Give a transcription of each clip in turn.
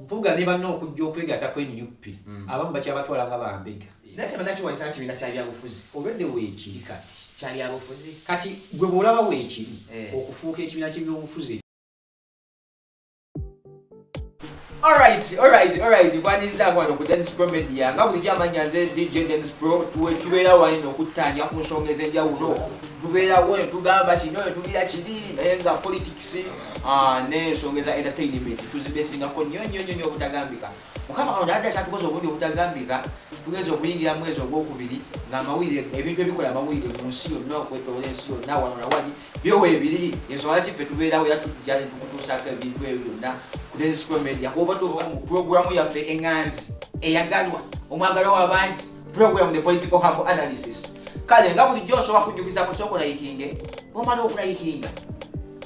mpuga ne banna okujja okwegatta ku nup hmm. abamu bakyabatwala nga bambega naye tebanaki wansi kibiina kya byabufuzi olwedde weekiri kati kya byabufuzi kati gwe bw'olaba weekiri eh. okufuuka ekibiina ky'ebyobufuzi Alright, alright, alright. Kwaniriza kwano ku Dennis Pro Media. Nga bulijjo amannya nze DJ Dennis Pro tuwe tubeera wali n'okuttaanya ku nsonga ez'enjawulo. Tubeerawo ne tugamba kino ne tugira kiri naye nga politics ah, n'ensonga eza entertainment tuzibeesingako nnyo nnyo nnyo nnyo obutagambika. Mukama Katonda adda kyatukoze obungi obutagambika tugeze okuyingira mwezi ogwokubiri ng'amawulire ebintu ebikola amawulire mu nsi yonna okwetoola ensi yonna wano na wali byo webiri ensonga kiffe tubeerawo era tujja ne tukutuusaako ebintu ebyo byonna ku densco media kuba tuba mu pulogulaamu yaffe eŋŋanzi eyagalwa omwagalwa w'abangi program the political half analysis kale nga bulijjo osobola kujjukiza ku sooka olayikinge omala okulayikinga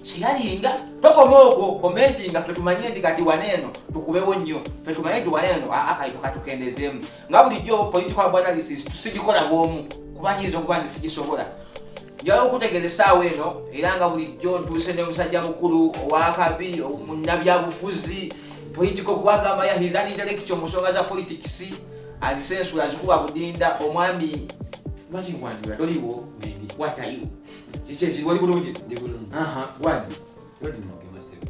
kyeyalinga tokoma okwo komenti nga ffe tumanye nti kati wana eno tukubewo nnyo ffe tumanye nti wana eno akaito katukendezeemu nga bulijjo political half analysis tusigikola bwomu kuba nyinza okuba nti sigisobola njala okutegeeza essaawa eno era nga bulijjo ntuuse ne musajja mukulu owakabi munnabyabufuzi political kuwagamba ya his intellectual mu nsonga za politics azisensula azikuba budinda omwami lwaki nkwanjula toliwo watayo kyekyekiri wali bulungi wani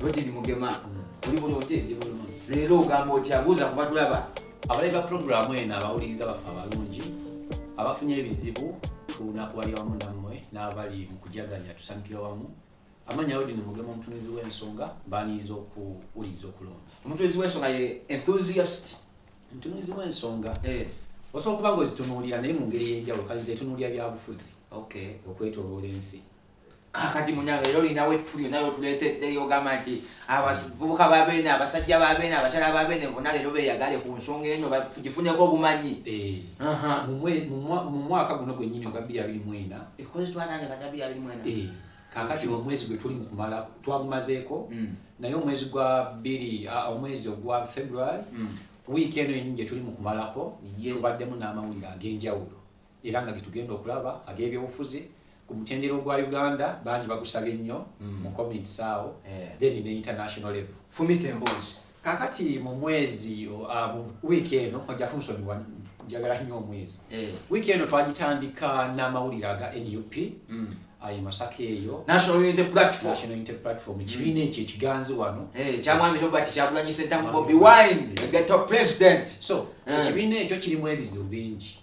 lodini mugema oli bulungi leero ogamba otya buuza kubatulaba abalabi ba pulogulaamu eno abawuliriza baffe abalungi abafunye ebizibu tunakubalya wamu nammwe n'abali mu kujaganya tusanyukira wamu amanya odi ni mugema omutunuzi w'ensonga baniyiza okuwuliriza okulungi omutunuzi w'ensonga ye enthusiast omutunuzi w'ensonga eh. osobola okuba nga ozitunuulira naye mu ngeri ey'enjawulo kayinza etunuulira byabufuzi okwetoloola ensi kakati munange era olina wetuli naye otuleeteddeyo ogamba nti abavubuka babeene abasajja babeene abakyala babeene bona leero beyagale ku nsonga eno gifuneko obumanyi eh, mu mwaka guno gwenyini ogwa bbiri abiri mwena eh, kakati omwezi gwe tuli mukumala twagumazeeko mm. naye omwezi gwa bbiri omwezi ogwa february mm. wiiki eno yenyini gye tuli mukumalako tubaddemu n'amawulire ag'enjawulo era nga getugenda okulaba ag'ebyobufuzi ku mutendera ogwa uganda bangi bagusabye nnyo mm. mu comments awo eh. then ne international level fumita emboozi kakati mu mwezi ah, mu wiiki eno ojja kunsonyiwa njagala nnyo omwezi eh. wiiki eno twagitandika n'amawulire aga nup mm. ayi masaka eyo national unity platform national unity platform mm. kibiina ekyo ekiganzi wano eh, kyamwami robert kyakulanyisa entamu bobi wine the top president so ekibiina ekyo kirimu ebizibu bingi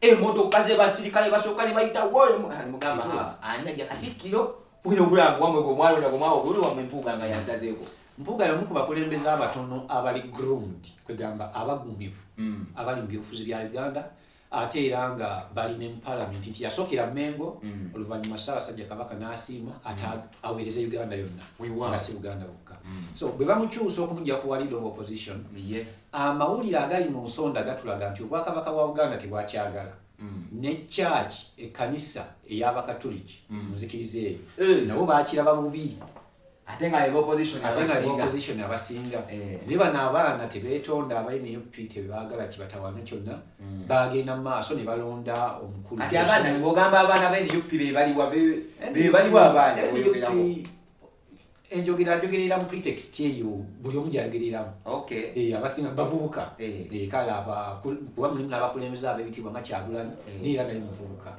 emotoka zebasirikale basooka ne bayita mugamba ani ajja katikkiro bwino obulamu wamwe gwe omwana ona gomwawo obuli wamwe mpuuga nga yansazeeko mpuuga yamu ku bakulembeze abatono abali groomed kwegamba abagumivu hmm. abali mu byobufuzi bya uganda ate era nga bali ne mupalamenti nti yasookera mengo hmm. oluvannyuma ssaabasajja kabaka n'asiima ate hmm. aweereza uganda yonna nga si buganda bukka so bwe bamukyusa okumuja kuwalira owa opposition Amawulire agali mu nsonda gatulaga nti Obwakabaka bwa Buganda tebwakyagala mm. ne kyaki ekkanisa ey'Abakatuliki mm. mu nzikiriza eyo eh. nabo baakiraba bubi ate nga opposition abasinga eh. naye bano abaana tebetonda aba nup tebagala kibatawana kyonna hmm. bagenda mumaaso nebalonda omukuluogamba abaana ba nup bebaliwa abaana enjogera njogerera mu pretext eyo buli omu gyayogereramu eh, abasinga bavubuka eh. Eh, kale kuba mulimu n'abakulembeze ab'ebitiibwa nga kyagulanyi naye era naye muvubuka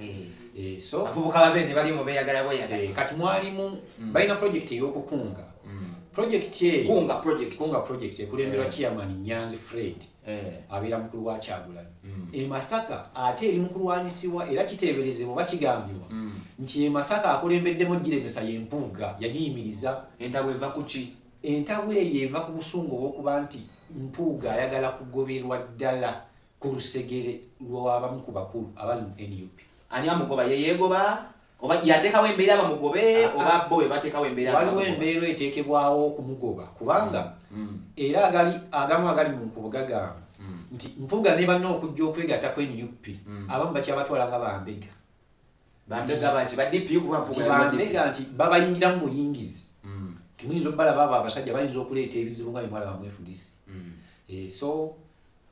kati mwalimu mm. balina projekiti ey'okukunga mm. projekiti eyokunga projekiti ekulemberwa chairman nyanzi fred Eh. abeera mukulu wa kyagulanyi mm. e masaka ate eri mukulwanyisibwa era kiteeberezebwa oba kigambibwa mm. nti e masaka akulembeddemu giremesa yempuuga yagiyimiriza entabwe eva kuki entabwe eyo eva ku busungu obwokuba nti mpuuga ayagala kugoberwa ddala ku lusegere lwabamu ku bakulu abali mu nup ani amugoba yeyegoba oba yateekawo embeera bamugobe ah, ah. oba bo bebateekawo embeera waliwo embeera eteekebwawo okumugoba kubanga mm. Mm. era agali agamu agali mu nkubo gagamba mm. nti mpuga ne banna okujja okwegatta ku nup abamu bakyabatwala nga bambega bambega nti babayingiramu buyingizi timuyinza okubalaba abo abasajja bayinza okuleeta ebizibu nga bimwala bamwefudisi eh, so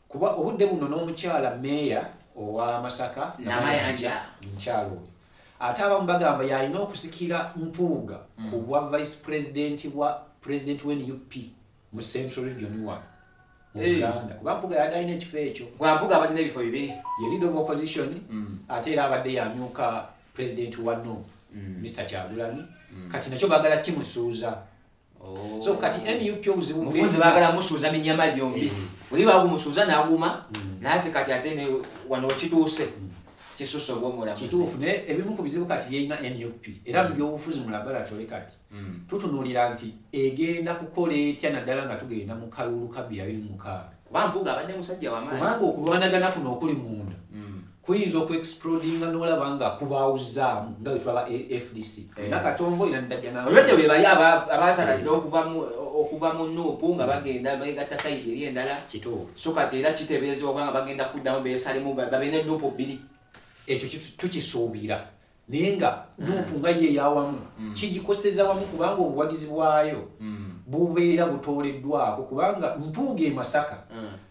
Kuba obudde buno n'omukyala meeya owa Masaka Namayanja mukyala oyo ate abamu bagamba yalina okusikira Mpuuga mm. ku bwa vice president bwa president wa nup mu central region wa mu Uganda kuba Mpuuga yali alina ekifo ekyo bwa Mpuuga abalina ebifo bibiri ye leader of opposition mm. ate era abadde yamyuka president wa nup Mr mm. Kyagulanyi kati nakyo bagala kimusuuza Oh. so kati nup obuzibu mufunze bagala musuuza minyama gyombi oli eh. bagumusuuza naguma hmm. nate kati ate wano kituuse hmm. kisusa obwomulamuzi naye ebimu ku bizibu kati byerina nup era hmm. mu byobufuzi mu laboratory kati tutunulira nti egenda kukola etya naddala nga tugenda mu kalulu kabbi abiri mukaaga kubanga okulwanagana kuno okuli munda kuyinza oku explodinga nolaba nga kubaawuzaamu nga wetulaba fdc eh. nakatongo era ndajjana olwedde webaye abasalalira okuva mu nuupu nga bagenda begatta sayidi eri endala so kati era kitebeezebwa kubanga bagenda kuddamu besalemu babe ne nuupu bbiri ekyo tukisuubira naye nga nuupu nga ye eyawamu mm. kigikoseza wamu kubanga obuwagizi bwayo mm. bubeera butooleddwako kubanga mpuuga e masaka mm.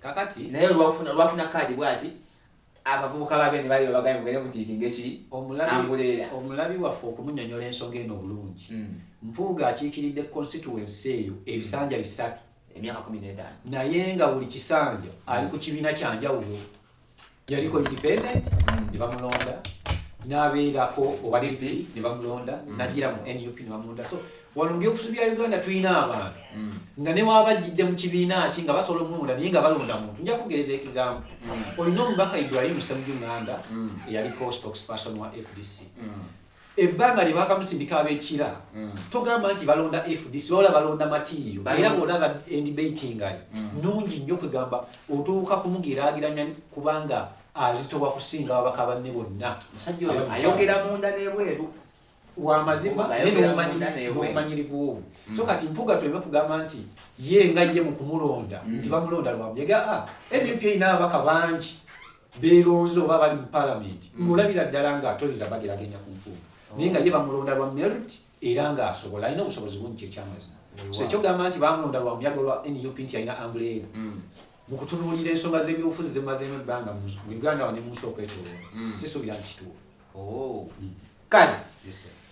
kakati naye olwafuna olwafuna kaadi bwati abavubuka babe ne bali babagambye mugende mutiikinga eki anguleera omulabi waffe okumunyonyola ensonga eno obulungi hmm. mpuuga akiikiridde constituency eyo ebisanja bisatu emyaka kumi n'etaano naye nga buli kisanja ali ku kibiina kyanjawulo yaliko independent mm. ne bamulonda n'abeerako owa dp ne bamulonda mm. nagira mu nup ne bamulonda so wano mubyobusubi bya uganda tulina abantu mm. nga newaba ajjidde mu kibiina ki nga basobola omulonda naye nga balonda muntu nja kugereza ekizamu olina omubaka ibrahim semuju nganda eyaliko stokesperson wa fdc ebbanga lye bakamusindika abekira mm. togamba nti balonda fdc wabula balonda matiiriyo era bona nga endibatingayo mm. nungi nnyo kwegamba otuuka kumugeraageranya kubanga azitoba kusinga ababaka banne bonna ayogera munda nebweru wamazima nomanyirigwowo mm. so kati mpuga tuleme kugamba nti ye nga ye mukumulonda nti bamulonda lwamuyaga ah, nup erina ababaka bangi beeronze oba bali mu palamenti mm. ng'olabira ddala nga atoyinza bageragenya ku nfuufu oh. naye nga ye bamulonda lwa merit era ng'asobola alina obusobozi bungi kyekyamazima so ekyogamba nti bamulonda lwa muyaga lwa nup nti alina ambuleera mm. mu kutunuulira ensonga z'ebyobufuzi zemazeemu ebbanga mu uganda wa ne munsi okwetoloola mm. sisuubira nti kituufu oh. hmm. kale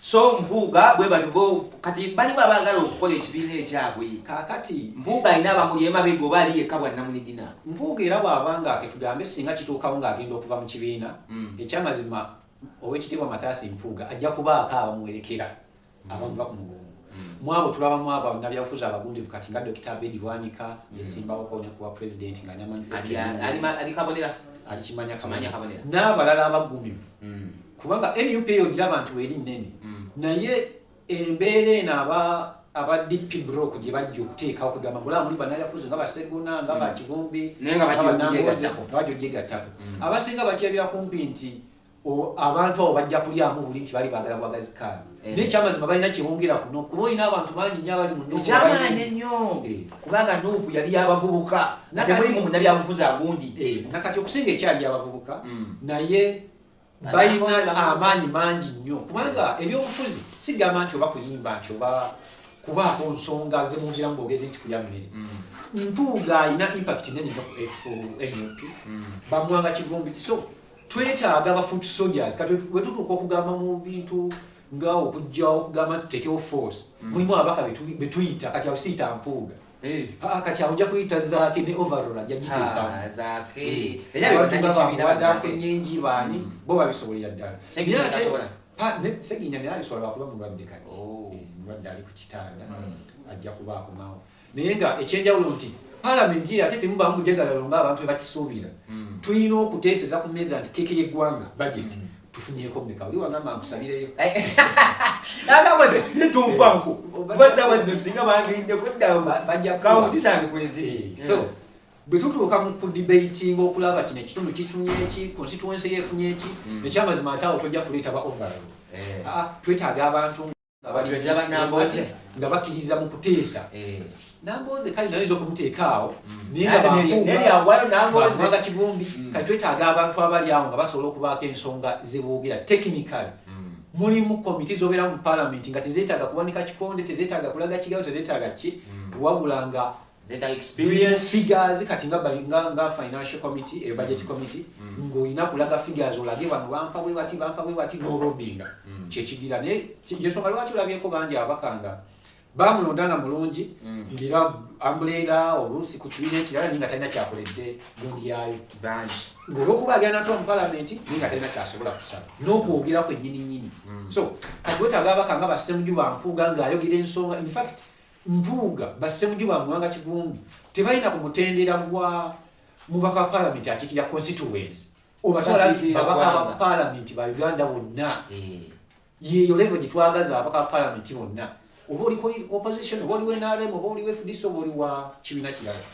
so mpuuga bwe balibo kati bali baba bagala okukola ekibiina ekyabwe kakati mpuuga alina abamuli emabega oba ali yekka bwannamunigina mpuuga era bwaba nga ketugambe singa kituukawo ng'agenda okuva mu kibiina hmm. ekyamazima owekitiibwa mathasi mpuuga ajja kubaako abamuwerekera abavuba ku mugongo mwabo tulaba mwabo abnabyabufuzi abagundivu kati nga dokita abedi bwanika mm. yesimbawo kone kuwa president nga namanifesalimanifesalialikabonera alikimanya kamanya kabonera n'abalala abagumivu mm. kubanga nup eyo gira abantu eri nnene mm. naye embeera eno aba aba dp brok gye bajja okuteekawo kugamba mula muli banayafuzi nga baseguna nga bakivumbi bajojjegattako abasinga bakyebira kumpi nti abantu abo bajja kulyamu buli nti bali bagala bwagazi kaano eh. naye ekyamazima balina kyebongeraku nokuba olina abantu bangi nyo abali mukyamaanyi ennyo eh. kubanga nuupu yali yabavubuka natemulimu munabyabufuzi agundi eh, nakati okusinga ekyali yabavubuka mm. naye balina amaanyi mangi nnyo kubanga ebyobufuzi sigamba nti oba kuyimba nti oba kubaako nsonga zemwogeramu bogezi nti kulya mmere mm. mpuuga alina impact nene nyo ku nup mm. bamwanga kivumbi so twetaaga ba foot soldiers kati wetutuuka okugamba mu bintu nga okujjawo okugamba tutekewo force mm. mulimu ababaka betuyita kati awo siyita mpuuga eh. ah, ah, kati awo nja kuyita zaake ne overall ajja giteekamuakenyengi ah, baani mm. bo babisobolera ddala seginya naye abisobola lwakuba mulwadde kati oh. eh, mulwadde ali ku kitanda mm. ajja kuba akomawo naye nga ekyenjawulo nti palamenti ye ate temubamu mujegalalo nga abantu bebakisuubira hmm. tulina okuteeseza ku meeza nti keke yeggwanga bajeti hmm. tufunyeko meka oli wagamba nkusabireyo nagakoze nituufanku basawa zino singa bandiridde kuddawobajjakawunti zange kweziri eh, so bwe tutuuka mu kudibatinga okulaba kino ekitundu kifunye eki konsituwensi yefunye eki hmm. ekyamazima ate awo tojja kuleeta ba overall eh. ah, twetaaga abantu nga bakiriza mu kuteesa eh. namboze kale naye nja okumuteekaawo mm. nayeryawayo nambozeaga kivumbi mm. kati twetaaga abantu abali awo nga basobola okubaako ensonga zeboogera technical mm. mulimu komiti zobeera mu palamenti nga tezetaaga kuwanika kikonde tezetaaga kulaga kigawo tezetaaga ki wabula nga zeta experience figures kati nga nga nga financial committee e budget mm. committee mm. ngo ina kulaga figures olage bano bampa we wati bampa we wati no robinga mm. che chigira ne yeso kali watu labye ko banje abakanga bamulondanga mulungi mm. ngira ambuleera oluusi ku kibiina ekirala ninga talina kyakoledde mulyayo ngaolwokuba agenda natula mu palamenti ninga talina kyasobola kusaba n'okwogera kwennyini nnyini mm. so kati wetaaga abaka nga basemuju bampuuga ng'ayogera ensonga infact Mpuuga, ba Ssemujju ba Muwanga Kivumbi tebalina ku mutendera gwa mubaka wa palamenti akiikirira constituency obatwala babaka ba palamenti ba Uganda bonna eh. yeeyo levo gye twagaza ababaka ba palamenti bonna oba oli opposition oba oli wa NRM oba oli wa FDC oba oli wa kibiina kirala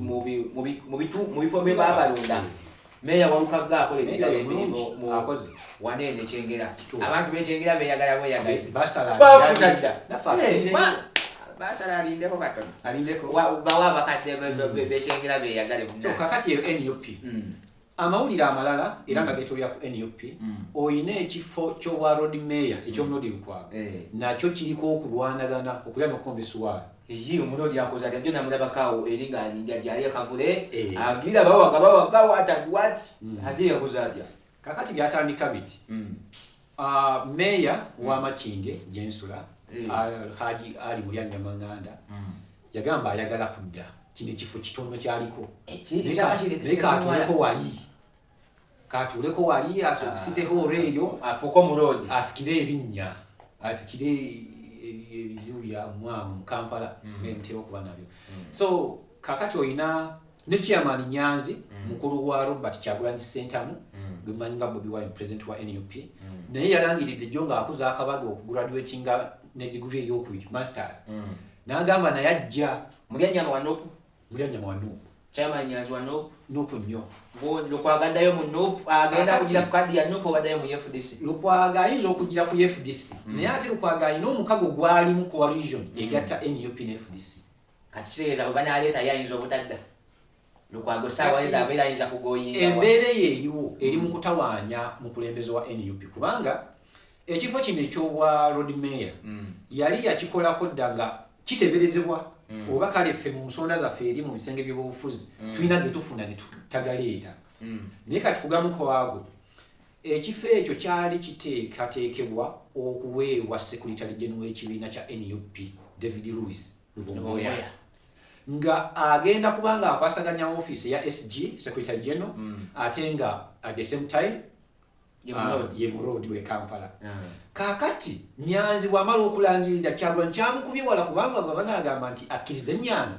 mu bifo bye babalonda meeya walukagga akola ebirala emirimu wana eno ekyengera abantu bekyengera beyagala bweyagalabasalaalindeko katono bawa abakadde bekyengera beyagale kakati eyo nup hmm. Amawulire amalala era nga getolera ku nup olina ekifo ky'obwa road mayor eky'omuloodi lukwago eh. nakyo kiriko okulwanagana okulya nokukomba esuwaali eyi omuloodi akoze atya jona mulabako awo eri ng'alinga gyali akavule eh. agira bawaga bawaga wata wat hmm. ate yakoze atya kakati byatandika biti hmm. Uh, meeya mm. wa Makindye gye nsula hey. Eh. uh, Haji Ali Mulyanya Manganda mm. yagamba ayagala kudda kino ekifo kitono kyaliko naye katuuleko wali katuuleko wali asiteho ah. olweeyo afuuke omuloodi asikire ebinnya asikire ebizibu bya mwamu mu Kampala mm. nemutera okuba nabyo mm. so kakati olina ne chairman nyanzi mm. mukulu wa robert kyagulanyi sentamu mm. gwemanyi nga bobi wine president wa nup mm. naye yalangiridde jo nga akuza akabaga okugraduatinga ne digri eyokubiri masters mm. nagamba naye ajja mulyanyama wa nup mulyanyama wa nup chairman nyanzi wa nup nup nnyo lukwagaddayo mu nup agenda kugira ku kadi ya nup ogaddayo mu fdc lukwaga ayinza okugira ku fdc mm. naye ate lukwaga alina omukago gwalimu coalition mm. egatta nup ne fdc kati kitegeeza bwe banaaleetayo ayinza obutadda lukwago saawa ezo abeera ayinza kugoyinga embeera eyo eriwo eri mu kutawaanya mukulembeze wa nup kubanga ekifo kino ekyobwa road mayor mm. yali yakikolako dda nga kiteberezebwa mm. oba kale ffe mu nsonda zaffe eri mu bisenge by'obufuzi mm. tulina getufuna netutagaleeta naye kati kugamukwago Ekifo ekyo kyali kiteekateekebwa okuweebwa Sekuritale Genero w'ekibiina kya nup David Louis Lubongoya nga agenda kuba nga akwasaganya ofiisi eya SG Sekuritale Genero mm. ate nga at the same time ah, ye muroodi we Kampala. Ah. Kaakati Nyanzi bw'amala okulangirira Kyagulanyi kyamukubye wala kubanga bwe banaagamba nti akkirize Nyanzi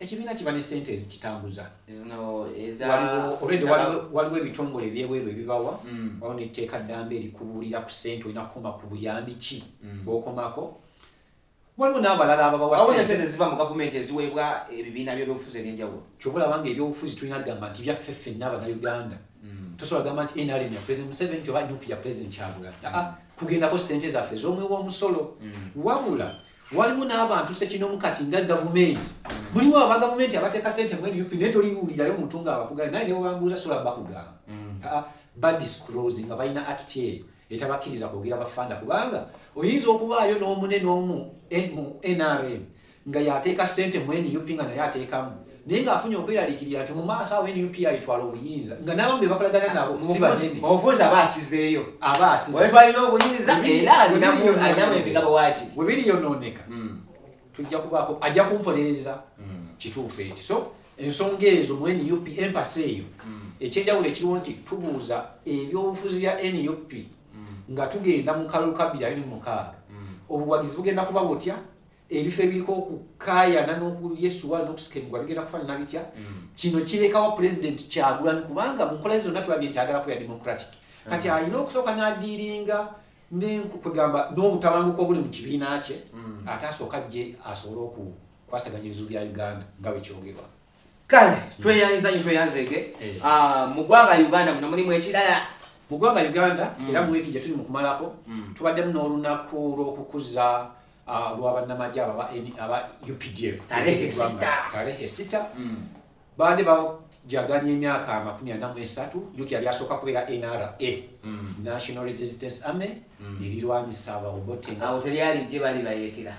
ekibiina kiba ne sente ezikitambuza waliwo ebitongole ebyebweru ebibawa mm. waliwo netteeka ddamba erikubuulira ku sente olina kukoma ku buyambi ki mm. bwokomako waliwo n'abalala ababawasente ziva mu gavumenti eziweebwa ebibiina by'ebyobufuzi ebyenjawulo kyoba olaba nga ebyobufuzi tulina kugamba nti byaffe ffenna abanauganda mm. tosobola gamba nti nrm ya president museveni nti oba nup ya president kyagula kugendako sente zaffe z'omuwi w'omusolo wabula waliwo n'abantu sekinomu kati nga gavumenti muliwo aba gavumenti abateeka sente mu nup naye toliwulirayo muntu nga abakugana naye nebwebambuuza sola bakugamba mm. ah, ah, badisclose nga balina akiti eyo etabakkiriza kwogera bafanda kubanga oyinza okubaayo n'omune n'omu mu nrm nga yateeka sente mu nup nga naye ateekamu naye ng'afunye okweralikirira nti mu maaso awo nup ayitwala obuyinza nga n'abamu be bakolagana nabo mubufuzi aba asizeeyo aba asizeeyoalina obuyinza era alinamu emigabo waki we biri yonooneka hmm. tujja kubaako ajja kumpolereza hmm. kituufu ekyo so ensonga ezo mu nup empasa eyo hmm. ekyenjawulo ekiriwo nti tubuuza ebyobufuzi bya nup nga tugenda mu kalulu ka 26 obuwagizi bugenda kuba butya ebifo ebiriko okukaayana n'okuyesuwa n'okusikemugwa bigenda kufanana bitya mm. kino kirekawo pulezidenti kyagulanyi kubanga mu nkola zonna tulabye nti agala kuya democratic mm. kati alina okusooka n'adiiringa kugamba n'obutabanguko obuli mu kibiina kye mm. ate asooka jje asobole okukwasaganya ebizibu bya uganda nga bwekyogerwa kale tweyanziza nyo tweyanzege eh. ah, mu ggwanga uganda muno mulimu ekirala mu ggwanga uganda mm. era mu wiiki gye tuli mu kumalako mm. tubaddemu n'olunaku lw'okukuza ah, lwa bannamagye aba updf tarehe sita mm. baade bajaganya emyaka amakumi ana mu esatu uk yali asooka kubeera nra national resistance army erirwanyisa abaobote awo teri ali gye bali bayekera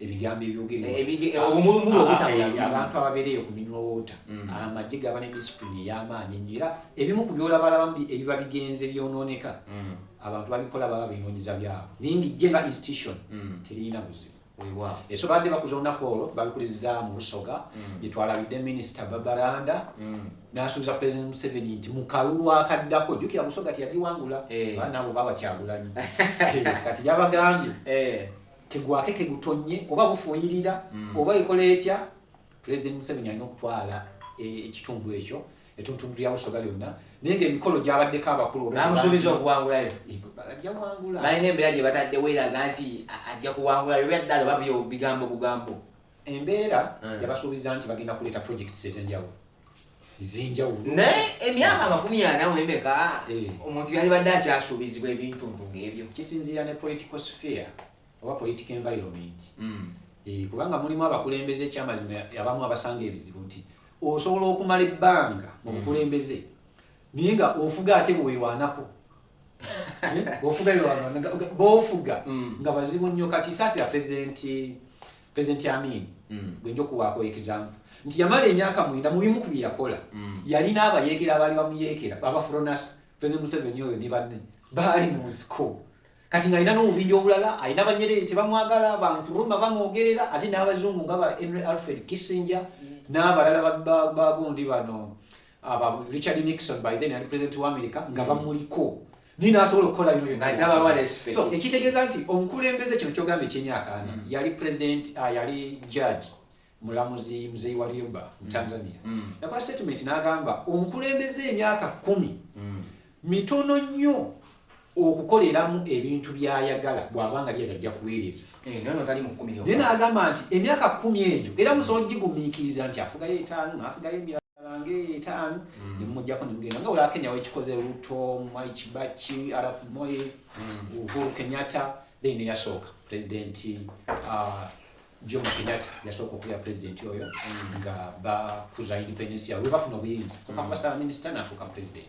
ebigambo ebyogerwabantu ababeereyo ku minwa wota mm. amagye gaba ne disipulini ey'amaanyi ennyo era ebimu ku byolabalamu ebiba bigenze byonooneka mm. abantu babikola baba binoonyeza byabo naye nga ejje nga institution mm. teririna buzibu eso baadde bakuza olunaku olwo babikuliza mu lusoga mm. gyetwalabidde minisita babaranda mm. nasuubiza president museveni nti mukalulu akaddako jukira musoga tiyagiwangula eh. banaabo babakyagulanyi eh, kati yabagambye eh. kegwake kegutonye oba bufuuyirira mm. oba ekola etya pulezidenti museveni alina okutwala e, ekitundu ekyo etuntundu lya busoga lyonna naye nga emikolo gyabaddeko abakulu namusuubiza okuwangulayo balina embeera gye bataddewo eraga nti ajja kuwangulayo byaddala oba bigambo bugambo embeera mm. yabasuubiza nti bagenda kuleeta projects ezenjawulo ezenjawulo naye emyaka amakumi ana wemeka eh. omuntu yalibadde akyasuubizibwa ebintu ntu ngaebyo kisinziira ne political sphere oba political environment hmm. eh, kubanga mulimu abakulembeze ekyamazima abamu abasanga ebizibu nti osobola okumala ebbanga mu hmm. bukulembeze naye nga ofuga ate bwewanako eh, ofuga bofuga hmm. nga bazibu nnyo kati saasi ya pulezidenti President Amin mm. gwenja okuwaako example nti yamala emyaka mwenda mu bimu ku bye yakola mm. yalina abayeekera abaali bamuyeekera babafuronasa President Museveni oyo ne banne baali mu nsiko kati ngalina n'obubinja obulala alina banyerere tebamwagala bankuruma bamwogerera ate n'abazungu nga ba henry alfred kissinger n'abalala bagundi bano richard nixon by then ali president wa america nga bamuliko naye nasobola okukola bino byonna ekitegeeza nti omukulembeze kino kyogamba ekyemyaka ana mm. yali president ah, yali judge mulamuzi muzeyi wa lyoba mu mm. tanzania mm. nakola statement n'agamba omukulembeze emyaka kumi mitono nnyo okukoleramu ebintu byayagala bwabanga lyali ajja kuweereza eh, naye n'agamba nti emyaka kumi egyo era musobola gigumiikiriza nti afugayo etaano naafugayo emirala bange etaano mm. nemujjako nemugenda nga olaba kenya wekikoze ruto mwai kibaki arap moy mm. uhuru kenyatta then neyasooka president uh, john kenyatta yasooka okubeera president oyo mm. nga bakuza independence yawe webafuna obuyinza okakubasaba minister nafuuka president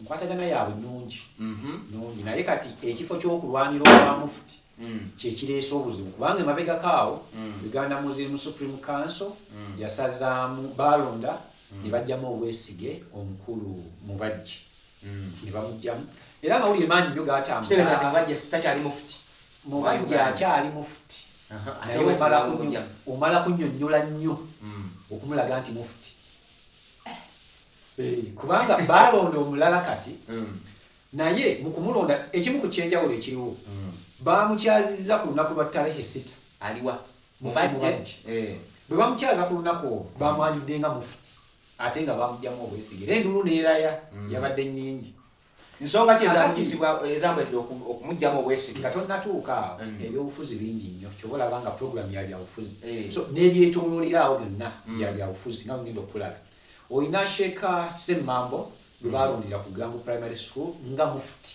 Enkwatagana yaabwe nnungi mhm. nnungi, naye kati ekifo ky'okulwanira obwa mufuti mm. kye kireese obuzibu kubanga emabegako awo mm. Uganda Muslim Supreme Council mm. yasazaamu baalonda ne bajjamu obwesige omukulu Mubajje ne bamugjamu era amawulire mangi nnyo gaatambulatakyali mufuti Mubajje akyali mufuti naye omala kunyonyola nnyo okumulaga nti mufuti eh, kubanga baalonda omulala kati mm. naye mu kumulonda ekimu ku kyenjawulo ekiriwo mm. baamukyazizza ku lunaku lwa talehe sita aliwa mubajje eh. bwe bamukyaza ku lunaku olwo bamwanjudde nga mufu ate nga bamugyamu obwesige era endulu neeraya mm. yabadde nyingi nsonga ki ezakutisibwa ezamwedde okumugyamu obwesige nga tonnatuuka awo mm. ebyobufuzi bingi nnyo kyoba olaba nga puroguramu ya byabufuzi eh. so nebyetunulira awo byonna mm. bya byabufuzi nga mugenda okukulaga olina sheeka semmambo gwe mm. balondera ku gangu primary school nga mufuti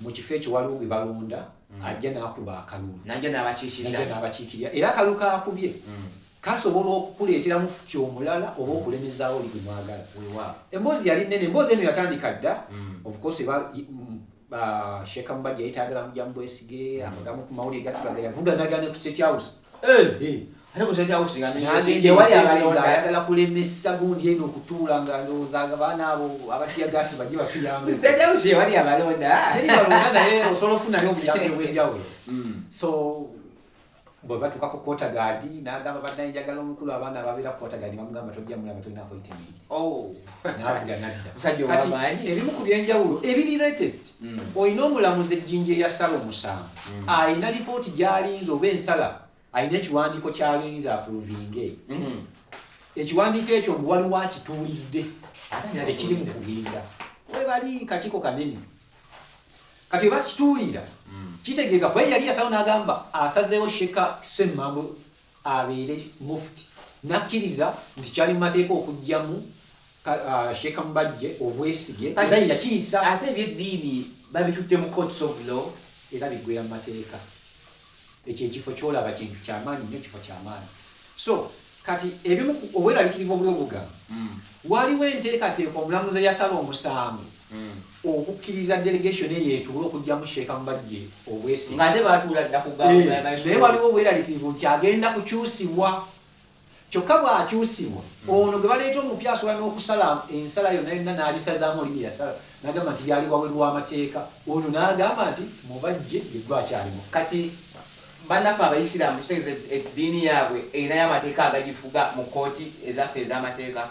mu kifo ekyo waliwo gwe balonda mm. ajja n'akuba akalulu najja n'abakiikirira era akalulu kaakubye mm. kasobola okukuleeteramu futi omulala oba okulemezaawo oli gwe mwagala emboozi yali nnene emboozi eno yatandika dda mm. ofcourse sheeka mubajja yetaagala mujja mu bwesige amagamu ku mawulire gatulaga yavuganagana ku state house ayagala kulemesa gundi eno okutuula nga ndowooza abaana abo abatiyagasi baje batuyambewali abalonda naye osobola ofunayo obuyambi obwenjawulo mm. so bwebatuka ku kotagaadi nagamba banaye njagala omukulu abaana ababeera ku kotagaadi bamugamba tojja mulaba tolina appointment Oh. kati ebimu ku byenjawulo ebiri latest mm. olina omulamuzi ejjinja eyasala omusango mm. alina lipooti gyalinza oba ensala alina ekiwandiiko kyalinza apuluvinge mm. ekiwandiiko ekyo mbu waliwo akituulidde ekiri mu kubinda webali kakiko kanene kati webakituulira kitegeeza kuba yali yasawo n'agamba asazeewo sheka semmambo abeere mufti nakkiriza nti kyali mu mateeka okugyamu uh, sheeka mubajje obwesige era yakiyisa ate ebyeddiini babitutte mu courts of law era biggwera mu mateeka ekyo ekifo kyolaba kintu kyamaanyi nyo ekifo kyamaanyi so kati ebimu obweralikirivu obuliobugamba hmm. waliwo enteekateeka omulamuzi yasala omusango okukkiriza delegation eyo etuule okugyamu sheeka mubajje obwesi nga ate batuula dda kugamba eh, naye waliwo obweraliikirivu nti agenda kukyusibwa kyokka bw'akyusibwa ono gwe baleeta omupya asobola n'okusala ensala yonna yonna n'abisazaamu oli bye yasala n'agamba nti byali wabweru w'amateeka ono n'agamba nti mubajje yeggwa akyalimu kati bannaffe abayisiraamu kitegeeza eddiini yaabwe erinayo amateeka agagifuga mu kkooti ezaffe ez'amateeka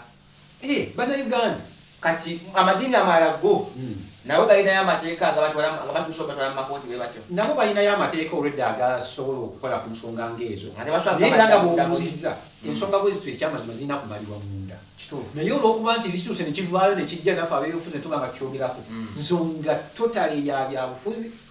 Eh, bana Uganda kati amadini amala go hmm. nabo balinayo amateeka agabatwalabatwala batwala mumakooti bwe batyo nabo balinayo amateeka olwedda agasobola okukola ku nsonga ngaezo naye era nga bwobuuzizza hmm. ensonga bwezitu ekyamazima zirina kumalibwa munda naye olwokuba nti zituuse nekivaayo nekijja nafe abeyobufuzi netuba nga tukyogerako hmm. nsonga totale ya byabufuzi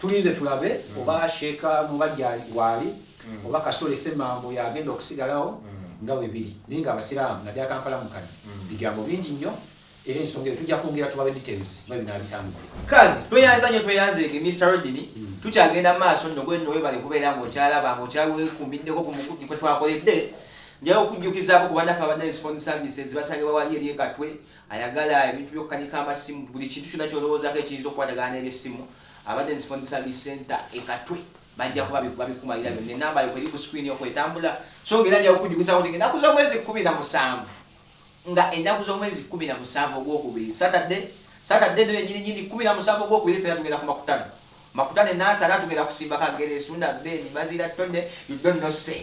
Tulinze tulabe mm. oba Sheikh Mubajja waali mm. oba Kasole Semambo yagenda okusigalawo mm. nga webiri naye nga Abasiraamu naddala Kampala mukano bigambo bingi nnyo era ensonga eyo tujja kwongera tubawe details nga binaabitambule kale tweyanza nnyo tweyanzeege Mr Rodini tukyagenda maaso nno gwe nno webale kubeera ng'okyalaba ng'okyawekumiddeko ku mukuti kwe twakoledde njaye okujjukizaako ku banaffe abadde ne sifoni services basangibwa wali eri ekatwe ayagala ebintu by'okukanika amasimu buli kintu kyonna ky'olowoozako ekiyinza okukwatagana n'ebyessimu abadde ne phone service center ekatwe bajja kuba babikumalira byonna enamba yo kweri ku screen okwo etambula so ng'era ajja kukujjukizako nti ennaku z'omwezi kkumi na musanvu nga ennaku z'omwezi kkumi na musanvu ogwokubiri saturday saturday no yenyini nyini kkumi na musanvu ogwokubiri fera tugenda ku makutano makutano enansi ate atugenda kusimba kageresu na beni mazira tone you don't know say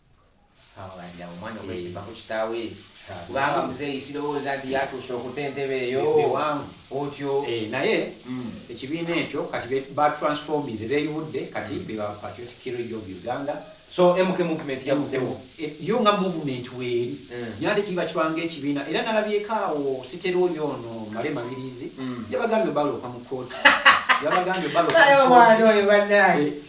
omwana okwesiba ku kitaawe kubanga muzeeyi sirowooza nti yatuuse okuta entebe eyo otyo eh, naye hmm. ekibiina ekyo kati batransforminze beeyubudde kati hmm. beba patriotic heritage of uganda so mk movement yavuddewo eh, yo nga movement weeri hmm. nyate kiba kibanga ekibiina era nalabyeko awo siterooli ono male mabirizi yabagambye baloka mu kooti yabagambye baloka mu kooti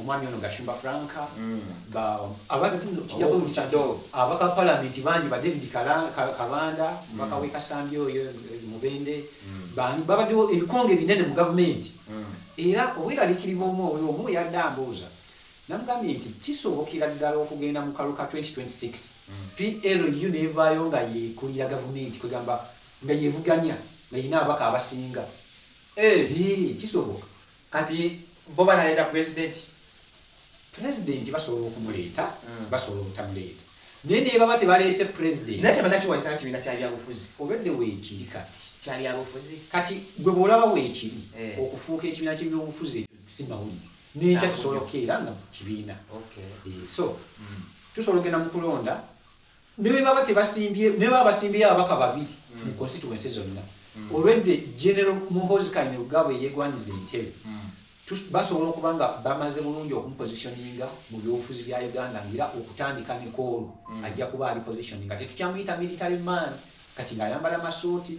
omwami ono gashumba frank mm. abaka palamenti bangi ba david kabanda omubaka mm. wekasambi oyo eh, mubende mm. bani babaddewo ebikonge binene mu gavumenti era obweralikirivu omu oyo omu yadde ambuuza namugambye nti kisobokera ddala okugenda mu kaluka 2026 plu nevaayo nga yekulira gavumenti kwegamba nga yevuganya nga yina abaka abasinga eh, kisoboka kati Bo banaleta president. President basobola okumuleeta, mm. basobola obutamuleeta. Naye ne baba tebaleese president. Naye tebannakiwanyisa na kibiina kya byabufuzi. Obedde weekiri kati. Kya byabufuzi. Kati gwe bw'olaba weekiri eh. okufuuka ekibiina ky'ebyobufuzi ekyo si mawulire. N'enkya tusobola okukeera nga kibiina. Okay. Eh, so, mm. tusobola okugenda mu kulonda ne bwe baba tebasimbye ne baba basimbyeyo ababaka babiri mm. mu constituency zonna mm. olwedde general muhozi kanyerugabo eyegwanyiza entebe mm. basobola okuba nga bamaze bulungi okumupositioninga mu byobufuzi bya uganda ngaera okutandika mikoolo ajja kuba ali positioning nga tetukyamuyita military man kati ngaayambala masuuti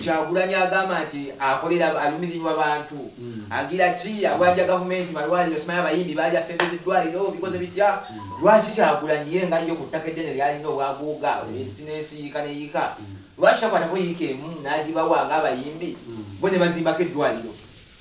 Kyagulanyi agamba nti akolera alumirirwa bantu hmm. agira ki awanja gavumenti malwaliro simanyi abayimbi baalya sente z'eddwaliro bikoze bitya hmm. lwaki Kyagulanyi ye nga yo ku ttaka eddene lyalina obwaguuga hmm. ensi n'ensi yiika ne yiika lwaki takwatako yiika emu n'agibawa ng'abayimbi bo ne bazimbako eddwaliro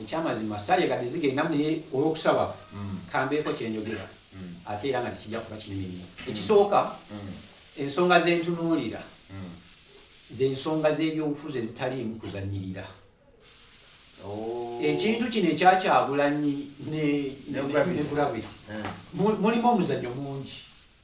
Ekyamazima sala egadde zigendamu naye olwokusaba kambeeko kyenjogera ate era nga tekijja kuba kinene nnyo. Ekisooka ensonga zentunuulira zensonga z'ebyobufuzi ezitaliimu kuzannyirira. Oh. ekintu kino ekyakyagulanyi ne gravity eh. mulimu omuzanyo mungi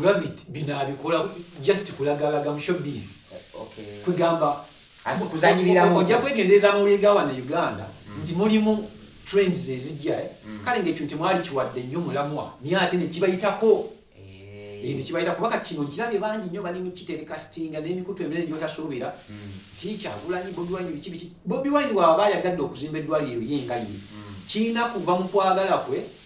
gravity bino abikola just kulagalaga mushobiri kwegamba ojja kwegendereza amawulire gawa na uganda mm. nti mulimu trends ezijja eh? mm. kale ngaekyo nti mwali kiwadde nnyo mulamwa naye ate nekibayitako ebyo eh. kibayita kubaka kino nkirabye bangi nnyo bali mukitereka sitinga n'emikutu eminene gyotasuubira mm. ti kyagulanyi bobi wine biki biki bobi wine waaba ayagadde okuzimba eddwaliro ye nga ye kirina kuva mu kwagala kwe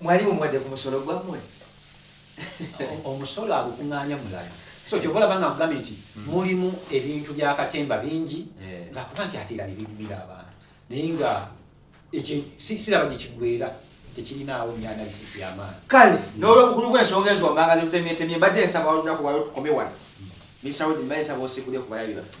mwali mumuwadde ku musolo gwammwe omusolo agukuŋŋaanya mulala so kyova olaba nga nkugambye nti hmm. mulimu ebintu bya katemba bingi eh. nga kuba nti ate era nebigumira abantu naye nga ekyo siraba gye kigwera tekirinaawo nnyo analysis y'amaani kale n'olwobukulu bw'ensonga ezo wammanga zitutemyetemye mbadde nsaba olunaku waliwo tukome wano hmm. misaudi mbaye nsaba osigule ku balabi baffe